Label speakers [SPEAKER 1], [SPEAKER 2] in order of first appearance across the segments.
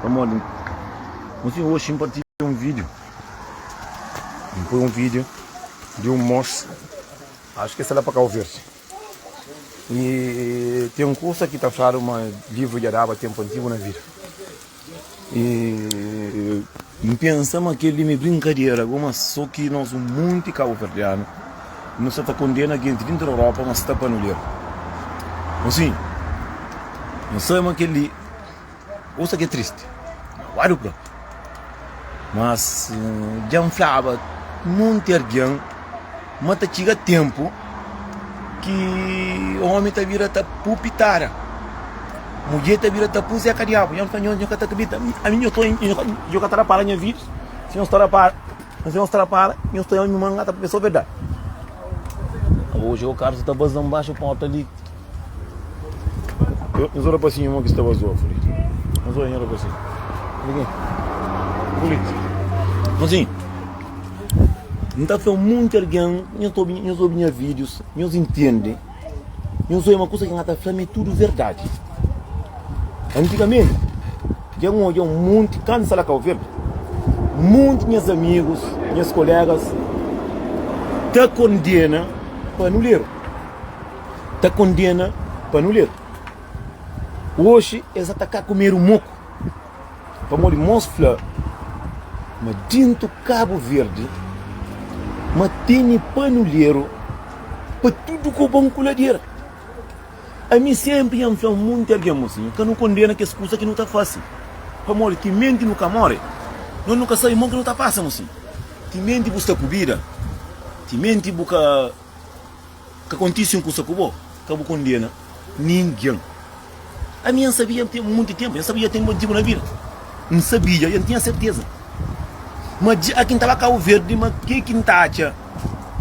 [SPEAKER 1] Pamodi N fin oxi N partilha un video N poi un video di un mox Acho que esta la pa Cabo Verde E tem coisa que ta falado ma livro dja daba tempo antigo na vida E N pensa ma kel li me brincadeira goma só que nos um monte Cabo Verdeano nos sa ta condena gente dentro Europa ma sta pa no ler Assim N sai ma kel li Usa ki é tristi, maguadu ku el. Mas dja N flaba monti algen ma ta txiga ténpu ki ómi ta bira ta pui pitara, mudjer ta bira ta pui zeka diabu. Nha N fla, Nhos, nhos ka ta kridita. Ami nhos ta oi, nhos ka ta da pala nha vidus. Si nhos ta da pala, ma si nhos ta da pala, nhos ta oi ami mangata pabia é sô verdadi. Aô, Jeô Karlus ta baza nbaxu pórta li. Nhos ora pa si irmon ki sta bas otu li. Nhos ora, nhos ora pa si. Fla si, N ta fla monti algen, nhos ta obi, nhos obi nha vídius, nhos intende, nhos oja ma kusa ki N ta fla-m é tudu verdadi. Antigamenti, dja N odja un monti kansa la Kau Verdi, monti nhas amigus, nhas kolegas ta kondena pa anuleru. ta kondena pa nu lel. Oxi es sa ta ka kumedu moku, pamodi mos fla ma dintu Kabu Verdi ma teni panuleru pa tudu ku bon ku ladera. Ami senpri nha fla munti algen ma si, ka nu kondena kes kusa ki nu ta fasi, pamodi timenti nu ka more, nos nu ka sabe mon ki nu ta pasa ma si. Timenti bu sta ku bida, timenti bu ka. Ka kontisi un kusa ku bo, ka bu kondena ningen. Ami N sabia N ten munti tenpu, N sabia N ten motivu na vida, N sabia i N tinha serteza. Ma dja ki N ta ba Kabu Verdi, ma ke ki N ta atxa?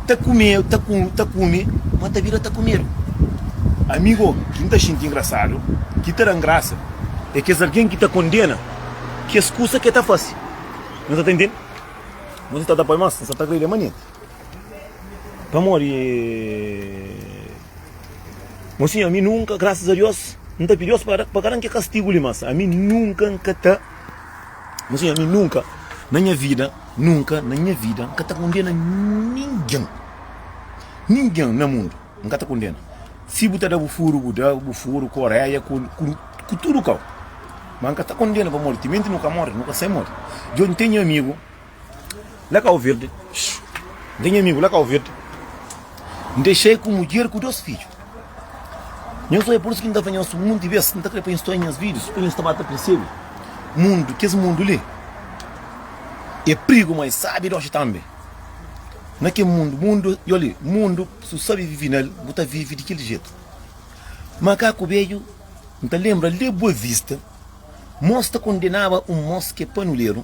[SPEAKER 1] Ta kume, ta ku, ta kume, ma ta bira ta kumedu. Amigo, ki N ta xinti ingrasadu, ki ta da-m grasa, e kes algen ki ta kondena kes kusa ke ta fasi. No ta tende? Bo si ta da pa nos, no sa ta agredi manenti. Pamodi Mon Sinhor, ami nunka, grasas a Diós, N ta pidi Diós pa ka da-m kel kastigu li. Mas ami nunka N ka ta, Mon Sinhor, ami nunka na nha vida, nunka na nha vida N ka ta kondena ningen, ningen na mundu N ka ta kondena. Si bu ta da-bu furu, bu da, bu furu ku oréia, ku ku tudu kau. Mas N ka ta kondena pamodi timenti nu ka móre, nu ka sai móre. Djon, N ten nha amigu, La kau virdi N ten nha amigu la kau virdi N dexei ku mudjer ku dos fidju Nhos oi pur isu ki N ta fla nhos Monti bes N ta kre pa nhos ta oi nhas vidius pa nhos ta ba ta persebe Mundu kes mundu li e prigu ma e sabi doxi tanbe Na kel mundu Mundu yoli Mundu si bu sabi vivi nel bu ta vivi di kel jetu Makaku bedju N ta lenbra le Boa Vista Mos ta kondenaba un mos ke panuleru.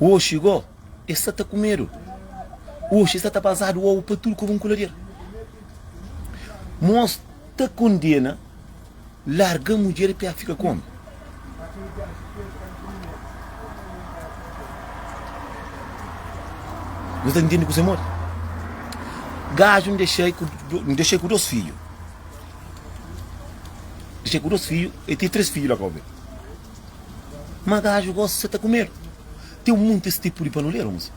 [SPEAKER 1] Oxi go, es sa ta ku medu. Oxi es sa ta bazadu obu pa tudu ku vun kuladeru. Mos ta kondena larga mudjer pa el fika ku omi. Nu ta ntende kuzê modi? Gaju N dexei ku N dexei ku dos fidju. Dexei ku dos fidju, el ten três fidju la ka obi. Ma gaju gosi sa ta ku medu. Ten un monti es tipu di panoleru mos.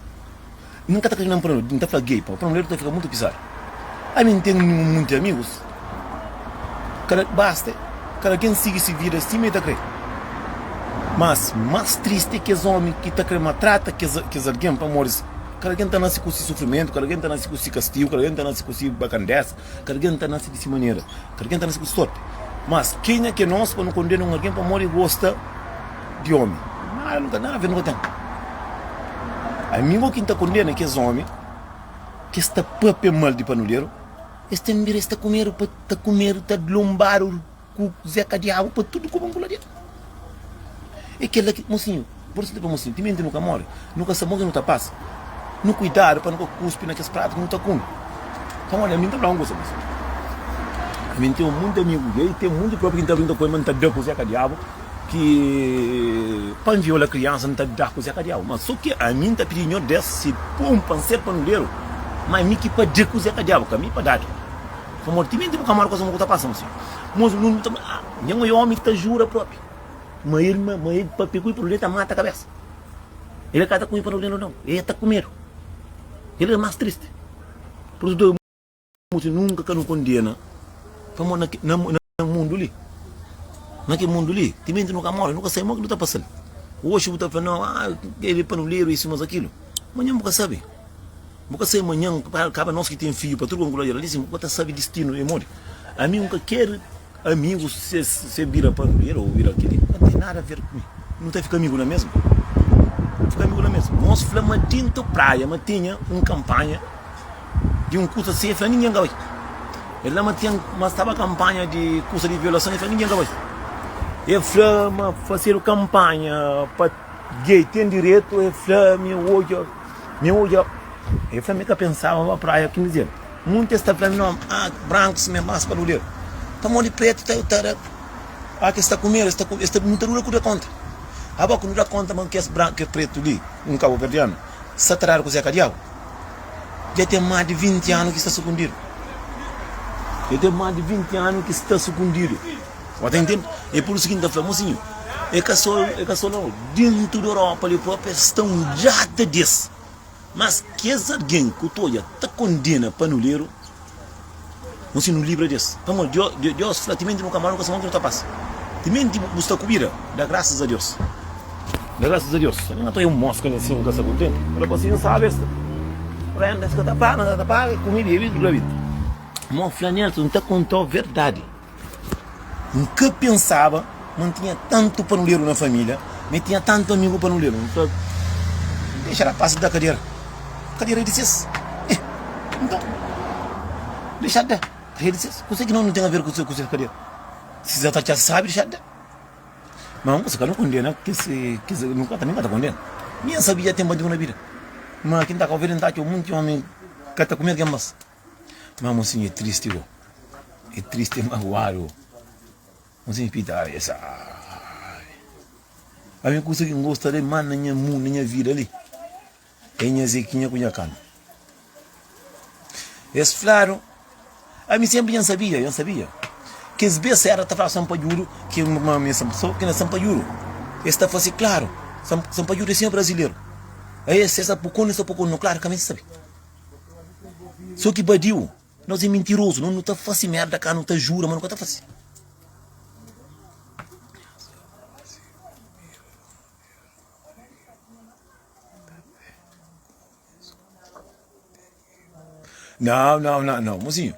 [SPEAKER 1] Mi n ka ta kre na un panoleru, n ta fla gei pa panoleru ta fika mutu pizadu. Ami n ten un monti amigus, kada basta kada ken sigi si vida sima e ta kre. Mas mas tristi e kes omi ki ta kre maltrata kes kes algen pamodi kada ken ta nasi ku si sufrimentu, kada ken ta nasi ku si kastigu, kada ken ta nasi ku si bakandesa. Ka algen ta nase di si manera, ka algen ta nase ku storpi. Mas, kenha ki é nos pa nu kondena un algen pamodi el gosta di ómi? Nada, nu ka ten nada a ver. Ami bo ki N ta kondena kes ómi ki es ta pâpia mal di panudéru. Es ten direitu di ta kumedu, ta kumedu, ta dlonbadu. Ku zé ka diabu pa tudu ku bon ku la dia e kela ki mosinhu por isu nu ta fla mosinhu timenti nu ka mori nu ka sabe bon ki nu ta pasa nu kuidadu pa nu ka kuspi na kes pratu ki nu ta kume pamodi ami nta fla un kusa mosinhu ami nten monti amigu gei i ten monti propi ki nta brinka ku el ma nta da ku zé ka diabu ki pa N viola kriansa nta da ku zé ka diabu ma so ki ami nta pidi nhordés si pon pa N ser panuderu ma ami ki pa da ku zé ka diabu ka mi pa dadu. Pamodi timenti bu ka amadu kuzê mau ku ta pasa-m si. Mos un nunbi ta fla, Ah, nha ngoi omi ki ta jura propi ma el ma ma el papia ku i pardon el ta mata kabesa. El ka ta konxe pardon di nau nau. El ta ku medu. El é mas tristi. Pur isu dói mos i nunka ka nu kondena pamodi na na. na mundu li. Na ke mundu li, timenti nu ka mori, nu ka sabe mo ki nu ta pasal. Oxi bu ta fla no, ah, ele panuleru, isi mas akilu. Manhan bu ka sabe. Bu ka sabe manhan, kaba nos ki ten fiju pa tudu konkuda jera, disi, bu ka ta sabe distinu de modi. Ami nu ka keri amigu se se bira panuleru o bira kili, ka ten nada ver ku mi. Nu ta fika amigu la mesmu. Fika amigu la mesmu. Nos fla ma dintu praia ma tinha un kampanha. Di un kusa si el fla ningen ka bai. El fla ma ten ma staba kanpanha di kusa di violason el fla ningen ka bai. El fla ma fasedu kanpanha pa gei ten diretu el fla mi odja mi odja el fla mi ka pensaba ba praia kin dias. Munti es ta fla mi non ah brankis me mas pa duder pamodi pretu ta ta da ah ki es ta kumedu es ta es ta nu ta duda ku da konta. Aba ku nu da konta ma kes bran kes pretu li un kabuverdianu sa ta dadu ku zeka diabu. Dja ten más di 20 anu ki sta sukundidu. Dja ten más di 20 anu ki sta sukundidu. Bo ta intende? É pur isu ki N ta fla, mosinhu, é ka sô, é ka sô la nau. Déntu di Europa li própi es sta un djata di es. Mas kes algen ku ta odja ta kondena panuleru. Bo si nu libra di es. Pamodi Dió, Dió, Diós fla, Timenti nu ka mal, nu ka sabe onti nu ta pasa. Timenti bu, bu sta ku bida, da grasas a Diós. Da grasas a Diós. N atraia un mos ka ne sima, ka sta kontenti. N fla bo si, N sabe es ta N ka ta para, N ka ta para, e kume, bebe, dura bida. Mo fla nel, N ta konta-u verdadi. N ka pensaba ma N tinha tantu panuleru na família, ma N tinha tantu amigu panuleru. N fla, Dexa rapazis da kadera kadera di ses. Eh, nton, dexa-s da kadera di ses. Kuzê ki no ten aver ku ses kadera? Si es ta atxa sábi, dexa-s da. Ma N gosi ka ta kondena kes, kes, N ka ta kondena. Mi N sabia ten bandidu na bida, ma ki N ta ka obi el, N ta atxa munti ómi ka ta kume algen más. Má Monsinhu é tristi gó É tristi, é maguadu gó Monsinhu Pita Ai, esa ai Má mi kusa ki N gosta de más na nha mundu, na nha vida li É nha Zekinha ku nha kantu Es fladu Ai, mi sénpri dja N sabia, dja N sabia Kes bes séra ta fladu Sanpadjudu ki é un ami Sô ki na Sanpadjudu es ta fase klaru Sanpadjudu é sinhor brazileru Ai, esa, esa Pukoni, esa Pukoni Klaru ka mi N sabe. Só ki badiu, nos é mintirozu, nos nu ta fase merda ka, nu ta jura, ma nu ka ta fase. Nau, nau, nau, nau, mozinhu,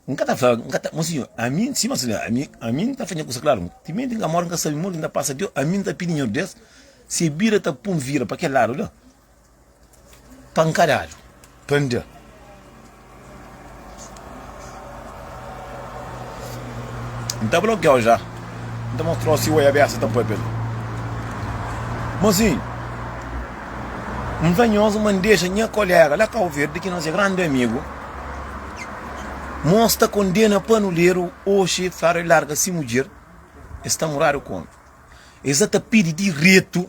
[SPEAKER 1] N ka ta fla, N ka ta, mozinhu, ami, si ma sina, ami, ami N ta fadja kusa klaru, timenti N ka mora, N ka sabe, modi N ta pasa, ami N ta pidi Nhordes, se bira ta pun vira pa kel ladu la, Pankadadu, pandá. N ta blokiau ja. N ta mostrau si oi abesa ta poi pa mi. Mozinhu, N fla nhos ma N dexa nha kolega la Kau Verdi ki nos é grandi amigu. Mos ta kondena panuleru oxi fla el larga si mudjer, es ta muradu ku omi. Es sa ta pidi diretu.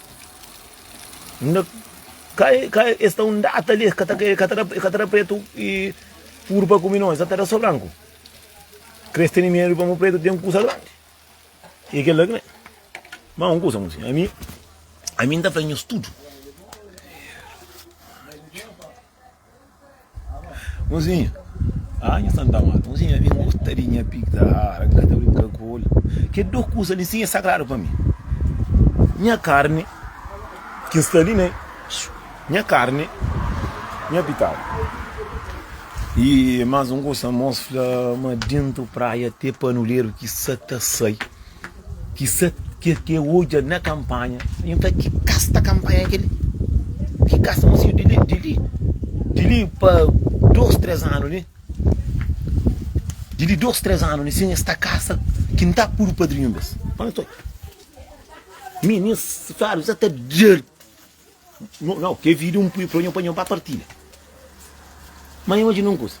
[SPEAKER 1] N da ka e, ka e sta un data li, e ka ta e ka ta da, e ka ta da pretu i puru pa kumi no, e sa ta da so branku. Kres tene medu pa mu pretu ten kusa grandi. I e kila ki ne. Ma un kusa ami, ami N ta fla nhos tudu. Mozinha, ah nha Santa Marta Mozinha mi N gosta di nha pig ta rara N ka ta brinka ku el Kel dos kusa li si e sagradu pa mi Nha karni ki N sta li na Nha karni, nha pitadu Y mas un kusa mos fla ma Dintu praia te panuleru ki sa ta sai Ki sa ke ke odja na kanpanha N fla ki kas ta kanpanha kel-li Ki kas ta masidu di li di li Di li pa dôs, três anu li Di li dôs, três anu li sin es ta kasa ki N ta puru padrinhu bes Fla-m sô Mi, mi, N sa ta djer No, no, ke video un pui proño pa nho pa partilha. Ma nho imagina un kusa.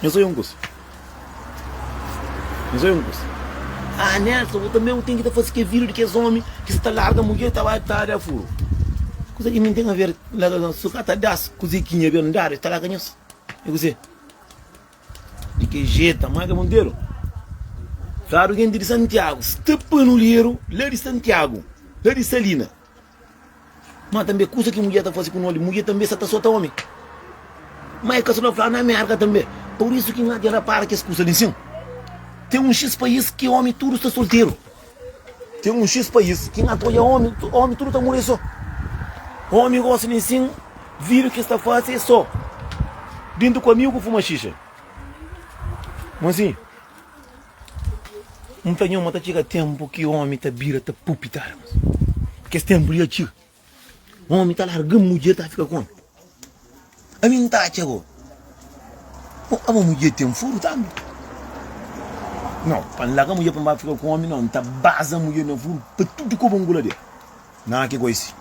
[SPEAKER 1] Nho sonha un kusa. Nho sonha un kusa. Ah, Nelson, u tambe u ten ki ta fase ke video di kes omi ki sa ta larga mudjer ta bai ta da furu. Kusa ki mi ten a ver, larga, su ka ta das kuze ki nha bendadu, e ta larga nhos. E kuze? Di ke jetu Amada Monteiro Fladu genti di Santiagu Sta pa nolheru la di Santiagu La di Salina Ma tanbe kusa ki mudjer ta fase ku noli Mudjer tanbe sa ta sota omi Ma e ka so na Fladu na Amerika tanbe Purisu ki nha dja rapara kes kusa li sin Ten un xis pais ki omi tudu sta solteru Ten un xis país ki n apoia omi, omi tudu ta muri so. Omi gosi di nsin vidu ki sta fasi e so. Dintu ku amigu fuma xixa. Ma si n ta nho ma ta txiga tenpu ki omi ta bira ta pupi ta armas. Kes tenpu li ya txiga. Un omi ta larga-m, mudjer ta fika ku-m. Ami N ta atxa bo. Bo, abo mudjer ten furu tambi? Nau, pa N larga mudjer pa N ba fika ku omi, nau, N ta baza mudjer na furu pa tudu koba N kula di-el. Nau, ki gosi.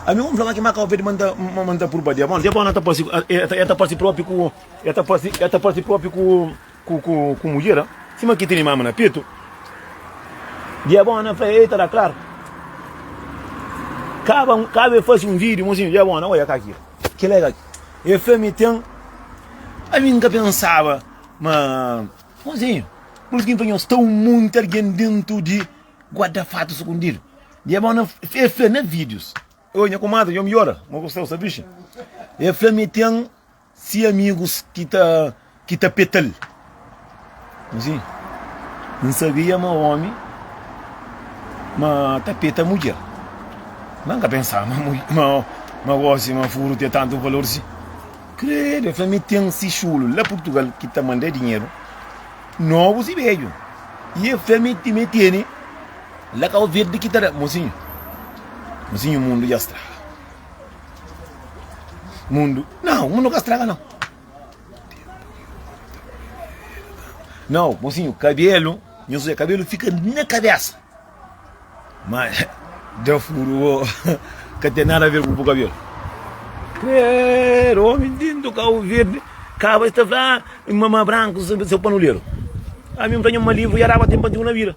[SPEAKER 1] Ami omi fla ma ki maka ovedu ma N ta, ma N ta purba di-el. Bon, dja bo, nau, el ta parse, el ta parse propi ku, el ta parse, el ta parse propi ku, Ku ku ku mudjer a sima ki tene mama na petu dia bon na fla ei ta da klar kaba kaba e fasi un video mozinho dia bon na oia ka ki ki la ka e fla mi ten ami nka pensaba ma mozinho bul tin fla nhos ta un monti algen dentu di guarda fatu sukundidu dia bon na e fla na videos oi nha kumadri nhos mi ola mo ku sta osa bixa e fla mi ten Si amigus ki ta ki ta petal. Nsi N sabia ma omi ma ta peta mudjer. Ma N ka pensaba ma mul ma ma gosi ma furu te tantu valor si. Credo, el fla mi ten si xulu la Purtugal ki ta manda dinheru, novus i bedju. I el fla mi ti mi tene la Cabo Verde ki ta da. Mosinhu, mosinhu mundu dja straga. Mundu. Não, mundu ka straga não. Não, mocinho, cabelo, minha sua, cabelo fica na cabeça. Mas deu furo, que tem nada a ver com o cabelo. Credo, homem lindo, carro verde, cava está lá, mamã branco, seu panuleiro. A mim tenho uma livro e araba tem bandido na vida.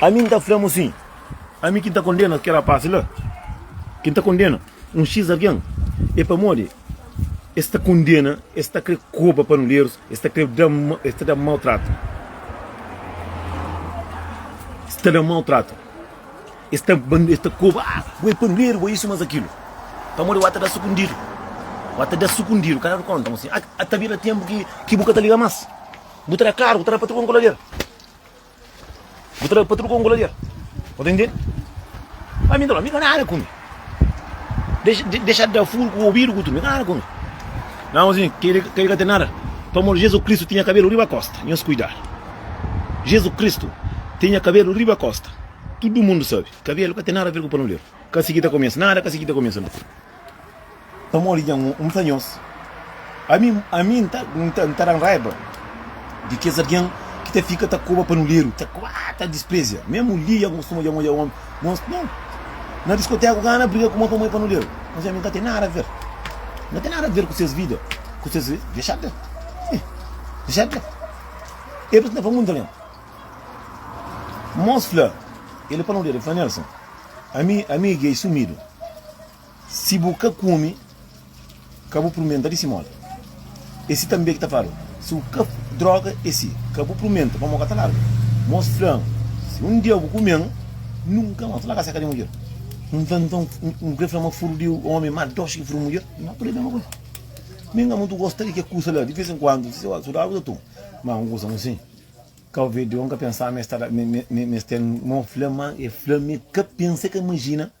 [SPEAKER 1] Ami N ta fla-mu sin, Ami ki N ta kondena kel rapás la, ki N ta kondena un xiz algen, é pamodi es ta kondena, es ta krê koba panuderus, es ta krê da, es ta da mau tratu, es ta da mau tratu, es ta, es ta koba, a, bo é panuderu, bo é isu más akilu. Pamodi wata da sukundidu, wa ta da sukundidu, ka dadu kónta ma sin, a, a ta bira ténpu ki, ki bu ka ta liga más, bu ta da klaru, bu ta da patron kolader. Bu tra pa truka un goladeira. Bo ta intende? A mi dolo, mi ka nada ku mi. Dexa, de, dexa da furu ku obidu ku tudu, mi ka nada ku mi. Não, assim, que ele, que ele ka tem nada. Pelo amor de Jesus Cristo tinha cabelo riba a costa. Nhos cuidar. Jesus Cristo tinha cabelo riba a costa. Tudo mundo sabe. Cabelo ka tem nada a ver com panoleiro. Kasi ki ta começa. Nada kasi ki ta começa não. Pamodi nha un N ta nhos. Ami ami N ta N ta N ta dan raiba di kes algen ki ta fika ta koba pa nu ledu, ta koba, ah, ta disprezia. Memu li nha kustuma dja odja omi nhos. Nau, na diskoteka ka na briga ku mon pamodi pa nu ledu. Nhos i ami ka ten nada ver. N ka ten nada ver ku ses vida, ku ses vi, dexad la. Ih, dexad la. E bbs N ta fla mundu algen. Mos fla el pa nu ledu, el fla, Nelson, ami ami i Gei sumidu. Si bu ka kume, ka bu prumenta di si modi. E si tanbe ki ta fla-l, Si bu ka droga e si ka bu prumenta, pamodi ka ta larga. Mos fla-m, Si un dia bu kume-m, nunka más bu ta larga sérka di mudjer. N fla-l, Nton, bu krê fla ma furdu di ómi má doxi ki furdu mudjer? N ka krê mésmu kuzê. Mi N ka mutu gosta di kes kuza la. Di vês en kuandu, si ses sudadu bu ta toma. Má un kuza usin, kau ve di, N ka pensaba ma es ta da, ma es ten. Mos fla-m, Má el fla-m, mi ka pensa, ka imajina.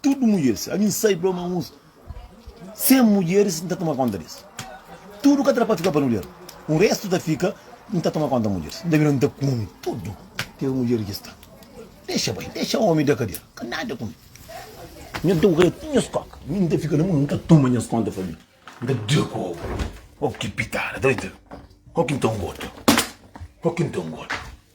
[SPEAKER 1] Tudu mudjeris, ami N sai blo ma uns 100 mudjeris N ta toma konta des. Tudu ka ta da pa fika pa nudjer. Un restu ta fika, N ta toma konta mudjeris. N ta bira N ta kume tudu kes mudjeris ki sta. Dexa bai, dexa omi da kadera ka nada ku mi. Nha da ogra ti nhas koka, mi N ta fika na munda, N ta toma nhas konta pa mi. N ta da ku ogra. Oki pitada, ta bai ta. Oki N ta ngoda, oki N ta ngoda.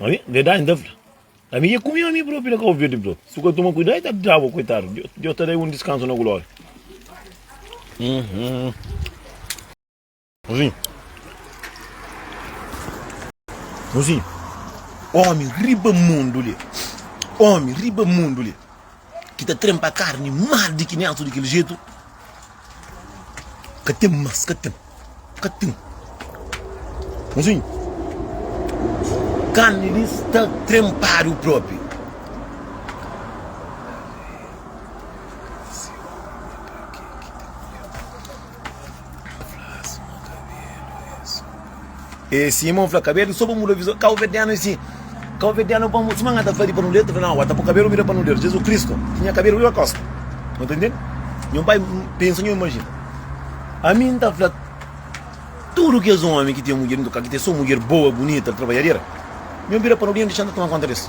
[SPEAKER 1] Ami, verdade ta fla. Ami ia kumi ami próprio na Cabo Verde, bro. Se eu toma cuidado, eu tá bravo, coitado. Deus tá dando um descanso na glória. Uhum. Assim. Assim. Homem, riba mundo ali. Homem, riba mundo ali. ki ta trenpa karni mal di ki nétu di kel jetu ka ten más ka ten ka ten nsinhu karni li sta trenpadu propi E sim mon fla cabelo so pa muda visão cabo verdeano e sim cabo verdeano pa muda suma ngata fadi pa nudeta fla não ata po cabelo vira pa nudeta Jesus Cristo tinha cabelo vira costa não tá entende nhon pai pensa nhon imagina a mim nta fla tudo que és homem que tem mulher nunca que tem só mulher boa bonita trabalhadeira nhon vira pa nudeta deixa nta toma conta des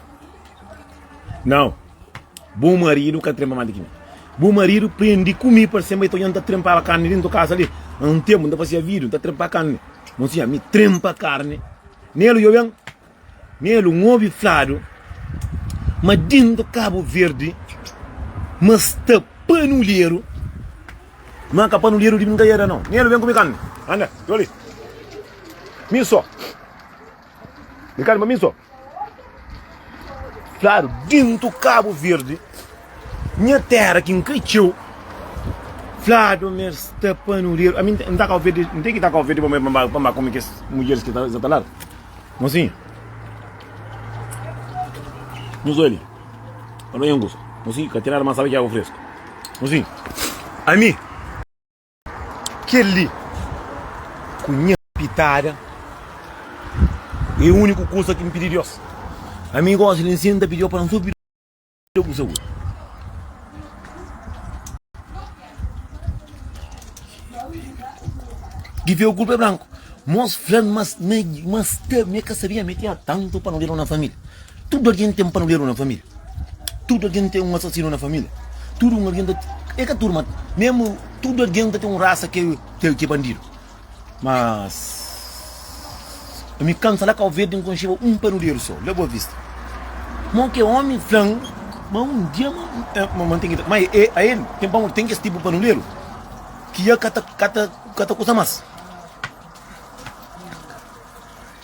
[SPEAKER 1] Nau, bu maridu ka trenpa más di ki mi. Bu maridu prendi ku mi parse ma i ta odja-m ta trenpaba karni déntu kaza li. Na un ténpu, N ta fazeba vídiu N ta trenpa karni. Mon sinha, mi trenpa karni. Nelu, djobe ben. Nelu, N obi fladu ma déntu Kabu Verdi ma sta panuleru, ma ka panuleru di brinkadera, nau. Nelu, ben ku mi ka. Anda, djobe li. Mi sô. Di kal ma mi so. Klaru, dintu Kabu Verdi, nha tera ki nkretxeu, fladu ma es ta panureru. Ami nta Kabu Verdi, nte ki ta Kabu Verdi pa mi pa mi ba kume kes mudjeris ki sa ta ladu. Mo sinha, nu so li, pa no nha angusta. Mo sinha, ka ten nada ma N sabe ki agu fresku. Mo sinha, ami. Kel-li, ku nha pitada, é úniku kuza ki N pidi Deus. Ami gosi li N sienta pidi-l pa N so pidi-l ku saúdi. Ki fé ô kulpa é branku. Mos fla-l ma sta, ma sta, mi ka sabia ma el tinha tantu pa nu deba na família. Tudu algen ten panaleru na família? Tudu algen ten un asasinu na família? Tudu un algen ta. É ka tudu, má mésmu tudu algen ta ten un rasa ki é bandidu. Mas. Ami kansa la Kauverdi N konxeba un panuleru sô, la Boa Vista. Mo ki ómi fla-m ma un dia ma N ten ki tra. Má é ael ten pamodi ten kes tipu panuleru ki dja ka ta kusa más.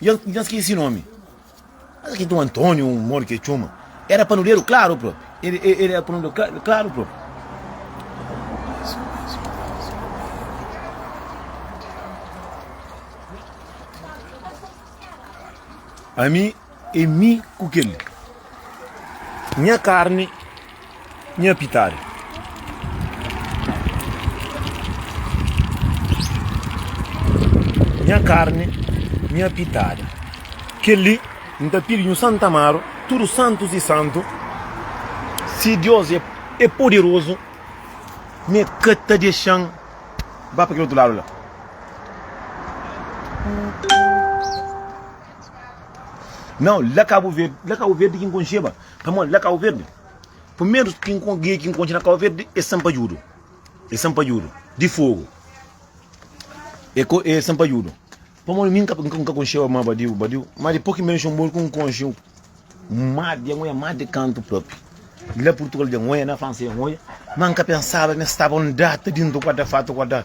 [SPEAKER 1] Dja N ka skese nomi. Mas ki Dun António, un modo ki el txoma, era panuderu klaru propi. El era panuderu klaru propi. Ami, é mi ku kel. Nha karni, nha pitadu. Nha karni, nha pitadu. Kel-li N ta pidi nhu Santa Amaro, tudu santus i santu, si Dios é poderozu, m'é ka ta dexa-m ba pa kel otu ladu la. Nau, la Kabu Verdi, la Kabu Verdi ki nkonxeba, pamodi la Kabu Verdi, primeru ki nko, gia ki nkonxe na Kabu Verdi e sanpadjudu, e sanpadjudu di fogu, e ko, e sanpadjudu, pamodi mi nka, nka, nka konxeba ma badiu, badiu, ma dipô ki nben Xingu ku nkonxe un ma di angoia ma di kantu propi, la Purtugal di angoia, na Fransa di angoia, ma nka pensaba ma e staba un data dintu kuadra fatu kuadra.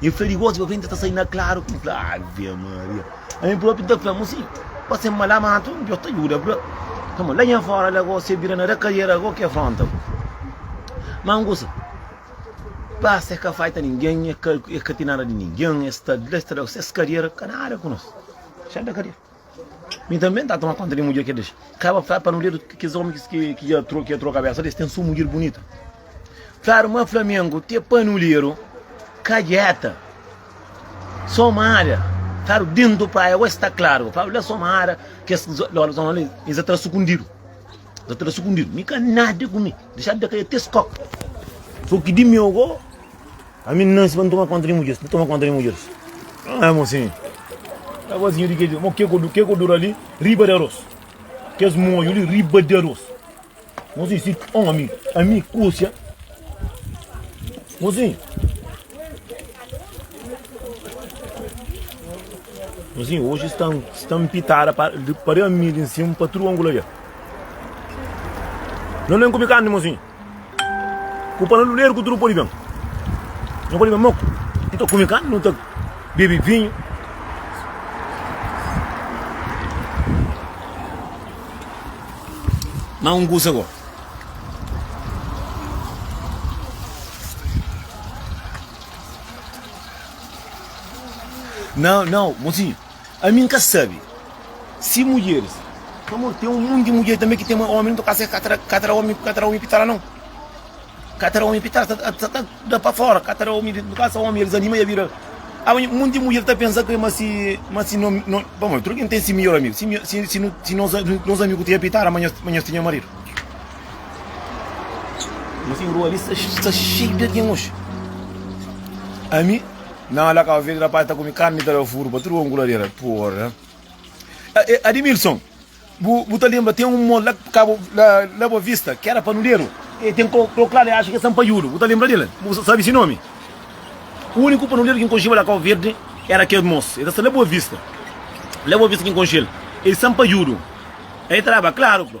[SPEAKER 1] E fla di gosi pa frenti ta sai na klaru N fla Ave Maria Ami propi N ta fla-m si pa se ma la matu N ta djuda bra Kama la nha fora la gosi se bira na da kariera Go ki afronta bo Ma N gosi Pasa e ka faita ningen e ka ti nada di ningen Es ta di la es ta da ses kariera Ka nada ku nos Xal da kariera Mi tanbê n ta toma kónta di mudjer ki el dexa. Kaba fla pa Noriel ki kes ómi ki dja trô kabésa di es ten sô mudjer bunitu. Flaru ma Flamengu ti é panuleru, kadjéta, sô mara. Flaru dentu praia gosi ta klaru. Flaru la sô mara, kes zóla zóla li e sa tra sukundidu. Sa tra sukundidu. Mi ka nada ku mi. Dexadu da kai até skoka. Fô ki di meu go. Ami nan si pa nu toma konta di mudjeris, nu toma konta di mudjeris. Ãa, mo sin. Ãa, mo sin di ke? Mo ke ku, ke ku dura li riba di aros? Kes moju li riba di aros? Mo sin, si omi, ami kusia. Mo sin. Mo sin, oji sta, sta mpitada pa, pa di ami di nsimu pa tudu angula dja. Nan na inkubi karni, mo sin. Ku panu di luderu ku tudu pode ben. Nha avó di ben, Moku, nu ta kume karni, nu ta bebe vinhu. Má un kusa gó, nau, nau, mosinhu. Ami N ka sabe si mudjeris. Pamodi ten un monti di mudjer tanbe ki ten mai omi, nton ka ser ka ta ka ta da omi ka ta da omi pi ta la non. Ka ta da omi pi ta la, sa ta sa ta da pa fora, ka ta da omi pi ka sa omi el disanima i el bira. Aba un monti di mudjer ta pensa ke ma si ma si no no pamodi tudu algen ten si midjor amigu, si mi si si no si nos nos amigu tinha pi ta la ma nhos ma nhos tinha maridu. Nton asin rua li sta sta xeiu di algen oji. Ami. Nan la kau vede rapaz ta kume karni ta da furu pa tudu omu ku ladera porra eh Adimilson bu bu ta lembra ten un mall la kabo la la boa vista ki era panuderu e ten ko ko kla li acha ki e sampaiudu bu ta lembra del bu sabe si nomi uniku panuderu ki nkonxeba la kau verde era kel mos e ta sta la boa vista la boa vista ki nkonxel e sampaiudu e traba klaru bro.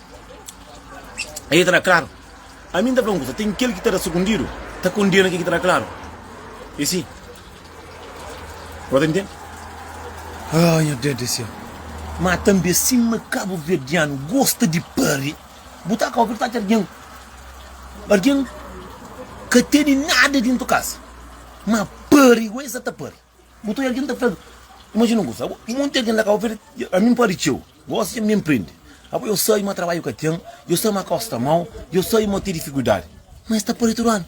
[SPEAKER 1] El ta da klaru. Ami N ta fla un kuza, ten kel ki ta da sukundidu, ta kondena kel ki ta da klaru. É si. Bo ta ntende? Ai, nha Deus di Séu! Má tanbê, sima kabuverdianu gosta di pâria, bu ta ka obi el ta atxa algen, algen ka tene nada déntu kasa, má pâria, igwá es sa ta pâria. Bu ta oja algen ta fla-l, Imajina un kuza, abo, i monti algen la ka oferse. Ami N pode txeu, gósi dja mi ben prende. Abo eu sabe ma trabadju ka ten, eu sabe ma kaus sta mau, eu sabe ma ten difikuldadi. Má es ta pâpia tudu anu.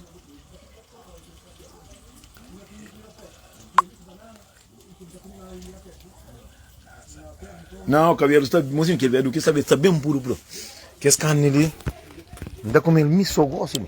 [SPEAKER 1] Nau, kabedu sta. Imajina kel biaduki, es ta ben puru, puru. Kes karni li, N ta kume-l mi sô gósi mi.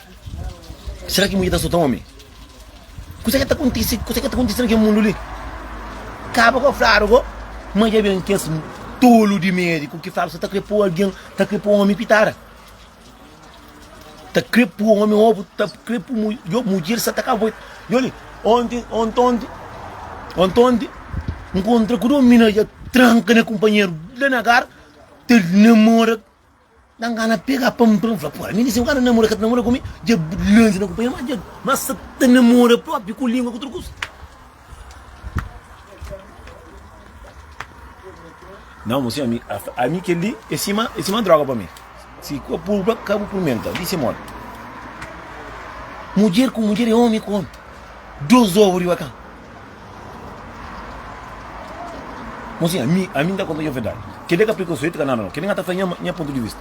[SPEAKER 1] Sera ki mudjer ta sota omi? Kuzê ki ta kontise, kuzê ki ta kontise na kel mundu li? Kaba ko fladu ko ma dja ben kes tolu di médiku ki flaba se ta kre po algen, ta kre po omi pitada, ta kre po omi ovu, ta kre po mu, yo mudjer sa ta kavoi. Yo li, onti, ontonti, ontonti, nkontra ku dô mina dja tranka na kunpanheru la na gar ta namora. Da n gana pega pa npra, n fla pô, ami di si bu ka ta namora ka ta namora ku mi, dja lansa na kunpanheru mas dja mas sa ta namora propi ku lingua ku tudu kuza. Nau mô si ami ami kel li e sima e sima droga pa mi, si ka purba ka bu purmenta di si modi. Mudjer ku mudjer e omi ku omi, dos ovu riba kan. Mozinha, ami, ami n ta konta-u nha verdadi. Kel dia ka pli konsoetu ka nada no, kel dia n ta fla-u nha, nha pontu di vista.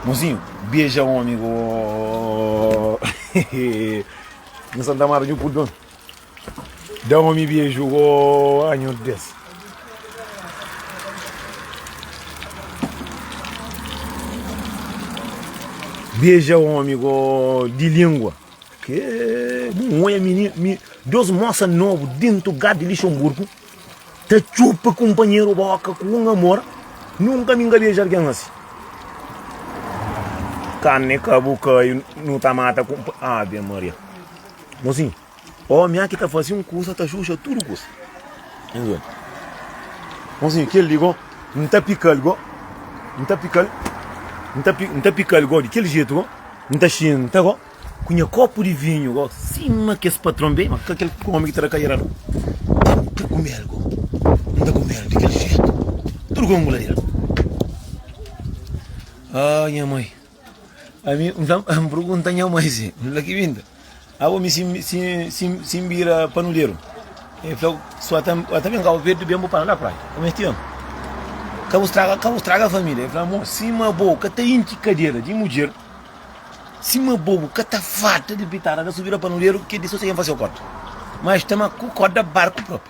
[SPEAKER 1] Mozinhu, beja omi go, hehehehe Nhu Santa Marta nhu purdu omi. Da omi beju go, ah nhu Deus. Beja omi go, di lingua. N odja mi dôs mosa nobu dentu gá di Lixenburgu ta txupa kunpanheru bóka ku un amor. Nunka mi N ka beja algen asi. Karni ka bu kai nu ta mata kunpa. Ave Maria. Mozinhu, ómi aki ta fase un kusa ta xuxa tudu kusa. N odja. Mozinhu, kel li go N ta pika-l go. N ta pika-l. N ta pika-l go di kel jetu go. N ta xinta go ku nha kopu di vinhu go sima kes patron be, ma ka kel omi ki ta da kadeira no. N ta kume el go, N ta kume el di kel jetu, tudu ku ungula di el. Aa nha mai, ami, N ta, N purgunta nha mai si, N fla, Ki binta? Abo mi si si si si n bira panuderu? El fla, si o ta, o ta ben Cabo Verde, ben bu pana na praia. Ô mesti amo. Ka bu straga, ka bu straga família. El fla, amor, sima abo ka ta intxi kadera di mudjer, sima abo bu ka ta farta di pitada, na si bu bira panuderu, kel di so siken fase o korda. Mas tama ku korda barku propi.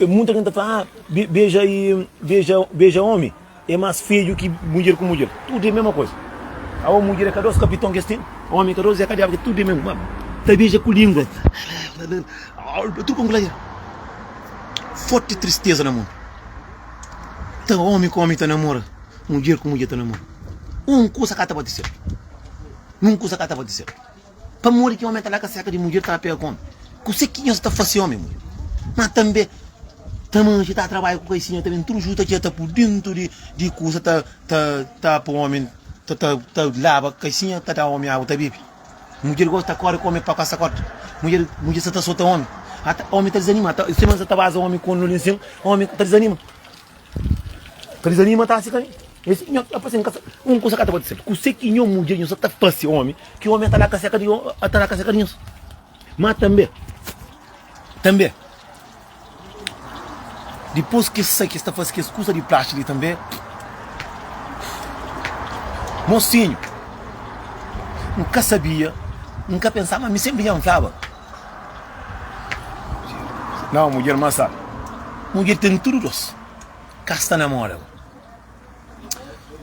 [SPEAKER 1] E muita gente ta fala, ah, beja e beja, beja omi e mas fedju ki mudjer ku mudjer, tudu e mesma koza. Awa mudjer e ka dos kapiton ki es ten, omi e ka dos, e ka diabu, tudu e mesma koza. Ta beja ku lingua, tudu pa ngulaia. Forti tristeza na mundu. Ta omi ku omi ta namora, mudjer ku mudjer ta namora. Un kusa ka ta bati sedu, un kusa ka ta bati sedu. Pamodi ki omi ta da kaseka di mudjer ki ta ba pega ku omi? Kuse ki nhos ta fase omi mudjer? Ma tanbe Tamagi ta trabadja ku Kaisinha tanbe. Tudu juta ki e ta pu dintu di kusa ta pa omi ta laba. Kaisinha ta da omi agu ta bebe. Mudjer gosi ta kori ku omi pa pasa korta. Mudjer sa ta sota omi. Ata omi ta dizanima. Ata semana sa ta baza omi ku un lulin sin. Omi ta dizanima. Ka desanima ta si ka ne. Nhos si nhos apa sen kasa. Un kusa ka ta pode ser. Kuse ki nho mudjer nho sa ta fase omi ki omi ata la ka seka di ata la ka seka di nhos. Ma tambe tambe dipos ki sa ki sta fase kes kusa di plaxi li tambe mosinho n ka sabia n ka pensaba mi senpri dja n flaba. Nau mudjer ma sa mudjer ten tudu dos ka sta na moda bo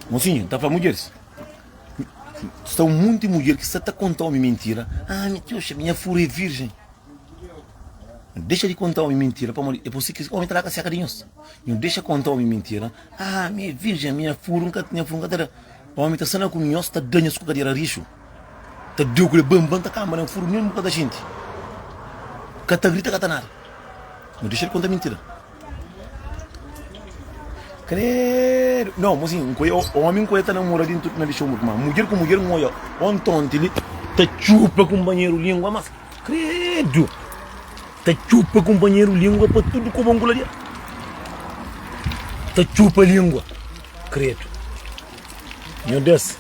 [SPEAKER 1] mosinhu ta fla mudjeris sta un monti mudjer ki sta ta konta omi mintira ah mi ta oxa nha furu é virjen dexa di konta omi mintira pamodi é pa si ki omi ta la ka seka di nhos nhu dexa konta omi mintira ah mi é virjen nha furu nha furu nka ta da Omi ta sana ku nhos ta danhas ku kadera rixu ta deu kule ban ban ta kamba nen furu nen buka da xinti ka ta grita ka ta nada no dexel konta mintida kredu no mo sin nkoia omi nkoia ta namora dintu na lixu mut ma mudjer ku mudjer ngoia on tonti li ta txupa kumpanheru lingua mas kredu Ta txupa kunpanheru língua pa tudu ku bon ku la di el Ta txupa língua kredu Nho Deus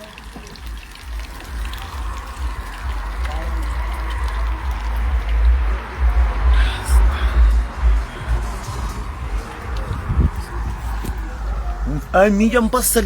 [SPEAKER 1] Ami dja n pasa-l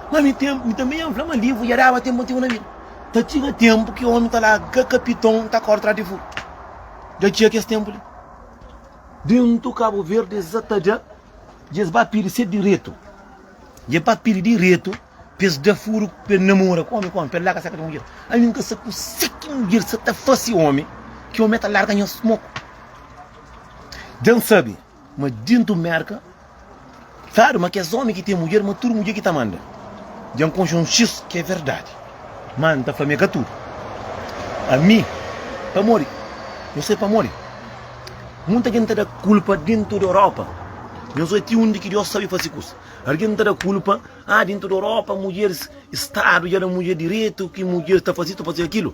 [SPEAKER 1] Na mi tenpu, mi tanbe N fla ma livru dja daba tenpu antigu na bin ta txiga tenpu ki omi ta la ka kapiton ta korda tras di furu. Dja txiga kes tenpu li. Dentu Kabu Verdi es sa ta da, dja es ba pidi se diretu. Dja ba pidi diretu pa es da furu pa el namora ku omi, ku omi, pa el larga seka di mudjer. Ami N ka sa kuse ki mudjer sa ta fase omi, ki omi ta larga nhos moku. Dja N sabe. Ma dintu Merka, Claro, ma kes omi ki ten mudjer, ma tudu mudjer ki ta manda. Dja N konxe un xis ki é verdadi, má N ta fla ma é ka tudu. Ami, pamodi nhos sai pamodi monti algen ta da kulpa dintu di Europa, nhos bai ti undi ki Dios sabe fase kusa. Algen ta da kulpa, Ah, dintu di Europa, mudjer Stadu dja da mudjer direitu, ki mudjer ta fase isu, ta fase kilu.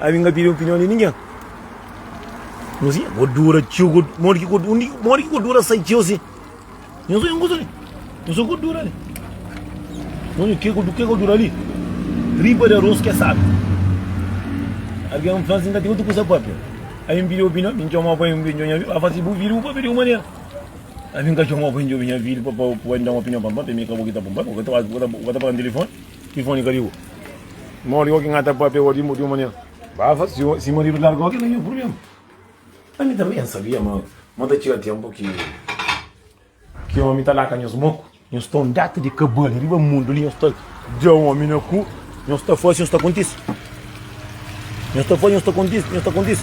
[SPEAKER 1] Ami n ka pidi opinion di ningen. Nhos i ko dura txeu, ko modi ki ko undi modi ki ko dura sai txeu si. Nhos oi un kusa li. Nhos oi ko dura li. Nhos oi ke ko ke ko dura li. Tripa di aros ke sabe. Algin fla si n ka ten utru kusa papia. Ami n pidi opinion mi n txomau pa mi djobe nha vida. Aba si bu vida bu papia di un manera. Ami n ka txomau pa mi djobe nha vida pa pa pa mi da un opinion pam pam pa mi ka bo ki ta pam pam. Bo ka ta bo ka ta pagam telefoni. Tifoni ka ligu Modi goki N ata papia ua di un manera Bafa, si maridu larga goki na nha purblema Ami tanbe N sabia ma ma ta txiga tenpu ki ki omi ta laka nhos moku Nhos ta unda ta di kabali riba mundu li Nhos ta dja omi na ku Nhos ta fasi nhos ta kontisi Nhos ta fla, nhos ta kontise, nhos ta kontise.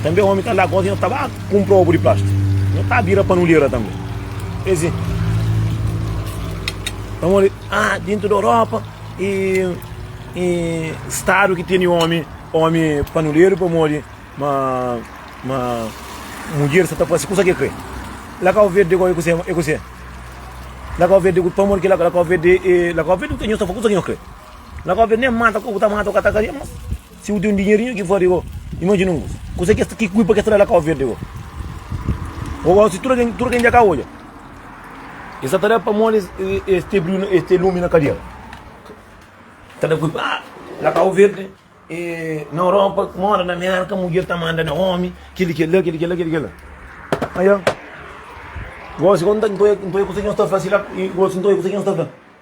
[SPEAKER 1] Tanbe omi ta la gosi, nhos ta ba kunpra obu di plastiku. Nhos ta bira panulera tanbe. E si, pamodi, ah, dintu di Europa e, e stadu ki tene omi, omi panuleru pamodi ma, ma mudjer sa ta fasi kusa ke kre. La Kau Verde go e kuse, e kuse. La Kau Verde, pamodi ki la, la Kau Verde, e, la Kau Verde nhos ta fla kusa ki nhos kre. La kópia nem mata ku ta mata ku ta karia mas si bu ten un dinherinho ki fari go imajina un kuza kuza kes ki kui pa kes ta da la kau verdi go o si tuda ken tuda ken dja ka odja e sa ta da pamodi e sta briu e sta lumi na kadiera ta da kui pa la kau verdi e na oropa kuma oda na merka mudjer ta manda na omi kili kila kili kila kili kila ajo gosi kon ta ntoi ntoi kusa ki nhos ta fla sila gosi ntoi kusa ki nhos ta fla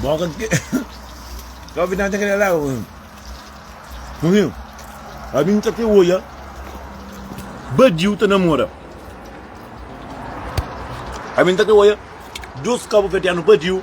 [SPEAKER 1] Boka de quê? Qual que tem aquele lá? o- Não viu? A mim tá até hoje. Badiu tá namora. A mim tá até hoje. Dois cabo verdeano badiu.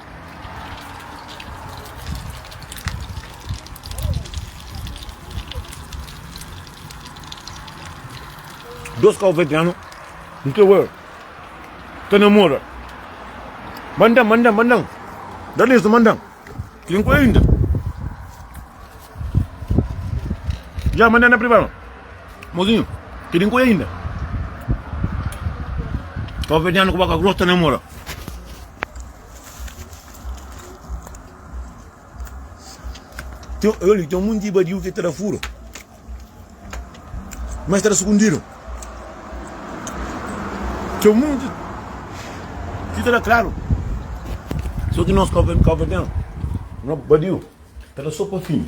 [SPEAKER 1] Dos kau veteranu nta bai ta namora Mandan, mandan, mandan Da lista mandan Tem coisa ainda Já mandan na privado Mozinho, ki di nkoia inda? Kau vedianu ku boka gross ta namora. Tem, olha, tem um monte de badiu que está fura. Mas está escondido. Tem um monte que está claro. Só que nós, cabo, cabo, não, badiu, está só para fim.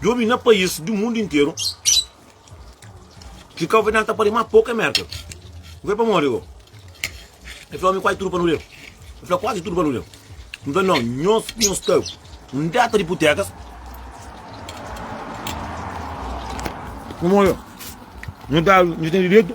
[SPEAKER 1] Djobe na pais di mundu interu, ki kau federal ta pari ma poku é Merkel. N fla, Pamodi bo? El fla, Omi, kuazi tudu pa nu leu. N fla, Kuazi tudu pa nu leu? N fla, Nau, nhos nhos sta un déta di iputekas. Pamodi bo? Nhos dadu, nhos tene direitu.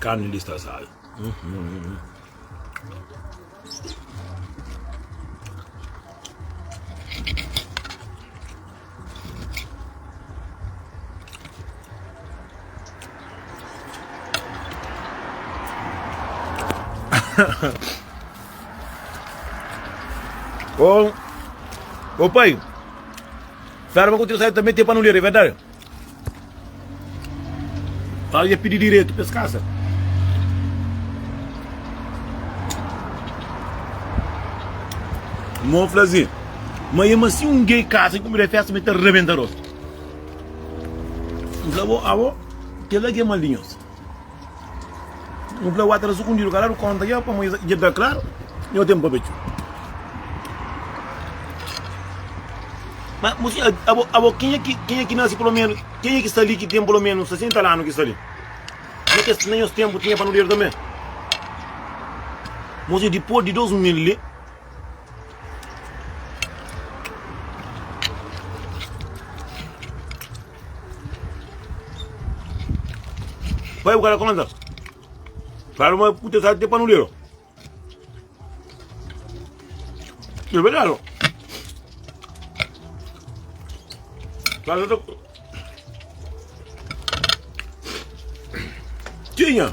[SPEAKER 1] Carne lista assada. Hum, hum, hum. oh, oh pai, Fera ma ku trisaiu tanbe ten pa nu ler é verdade? Fala dja pidi diretu pa es kasa. Mo fla zi ma e ma si un gay kasa i kumida festa mi ta rebenta rostu. N fla bo abo kila ki é maldinhosu. Nu fla wata ta sukundidu kaladu konta dja pamodi es dja fika klaru nho tenpu pa bai txu ma bu sibi abo abo kenha ki kenha ki nase pulomenu kenha ki sta li ki ten pulomenu 60 lanu ki sta li na kes na nhos tenpu tinha panaderu tanbe bo sibi dipos di 2000 li Pai bu ka ta konta. Claro, mas puta sabe ter panulero. É verdade. ó. Claro, eu tô- Tinha.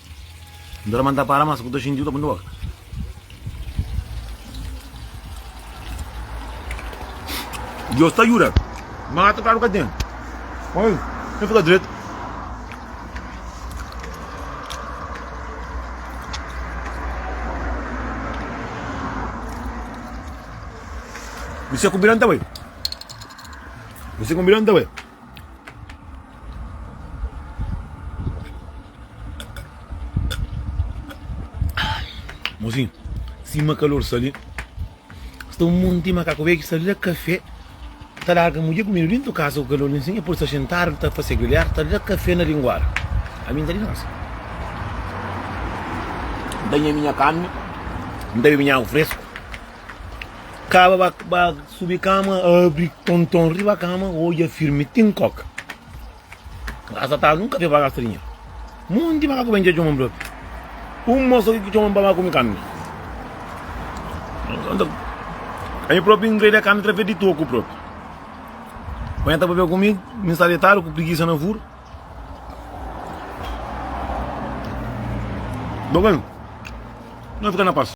[SPEAKER 1] N ta lmanta para ma skuta xinti u ta punti boka. Dios ta juda ma ata kadu ka ten oi na fika dretu. Mise ku bira nta bai. Mise ku bira nta bai. Mozinho, sima kalor sta li, sta un monti di makaku bês ki sta da kafé, ta larga mudjer ku mel dentu di kasa ku kalor li sin, dipôs ta xintadu, ta fase grelhadu, ta da kafé na linguada. Ami N ta dinosa, N ta nha minha kanha, N ta bebe nha agu fresku. Kaba ba, ba subi kama, abri tonton riba kama, odja firmi ti N koka. Grasa ta nu kafé pa gasta dinheru. Monti makaku ben dja txoma-m propi. Un mos oki ki txoma-m pa ba kume kami. Ami propi N greda kami trafé di toku propi. Oja N ta pabia kume, mi sta detadu ku prigisa na furu. Bo ben, no fika na pas.